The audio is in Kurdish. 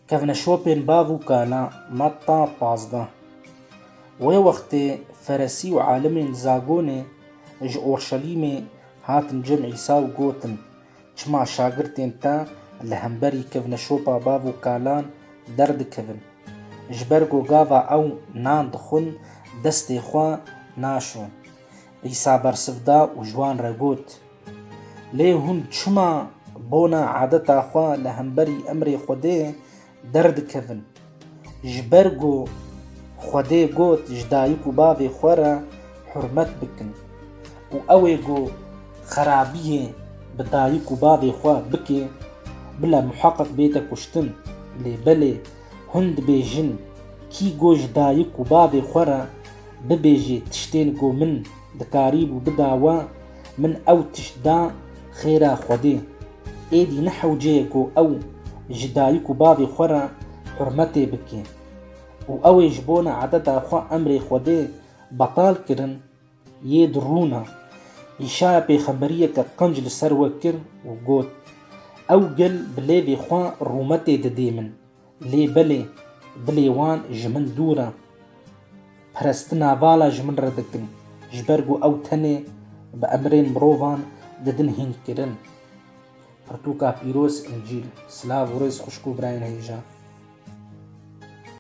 Kevne şopên bav û kala Matta pazdeh. Wê wextê feresî û alimên li Zagonê ji Orşelîmê hatin cem Îsa û gotin, Çima şagirtên te li hemberî kevne şopa bav û kalan derdikevin? Ji ber ku gava ew nan dixwin destê xwe naşon. Îsa bersiv da û ji wan re got, Lê hûn çima bona adeta xwe li hemberî emrê Xwedê derdikevin? Ji ber ku Xwedê got ji dayik û bavê xwe re hurmet bikin. Û ew ê ku xerabiyê bi dayik û bavê xwe bike, bila muheqeq bête kuştin. Lê belê hûn dibêjin, Kî ku ji dayik û bavê xwe re bibêje tiştên ku min Dikarîbû bida we, min ew tişt da xêra Xwedê. Êdî ne hewceyê ku ew ji dayik û bavê xwe re hurmetê bike. Û ew ê ji bona ededa xwe emrê Xwedê betal kirin, yê di rûn e. Îşaya pêxemberiyeke qenc li ser we kir û got, Ew gel bi lêvê xwe rûmetê didê min. Lê belê dilê wan ji min dûr e. Pirestina vala ji min re dikin, ji ber ku ew tenê bi emirên mirovan didin hînkirin. Pirtûka pîroz, Încîl. Silav û rêz xwişk û birayên hêja.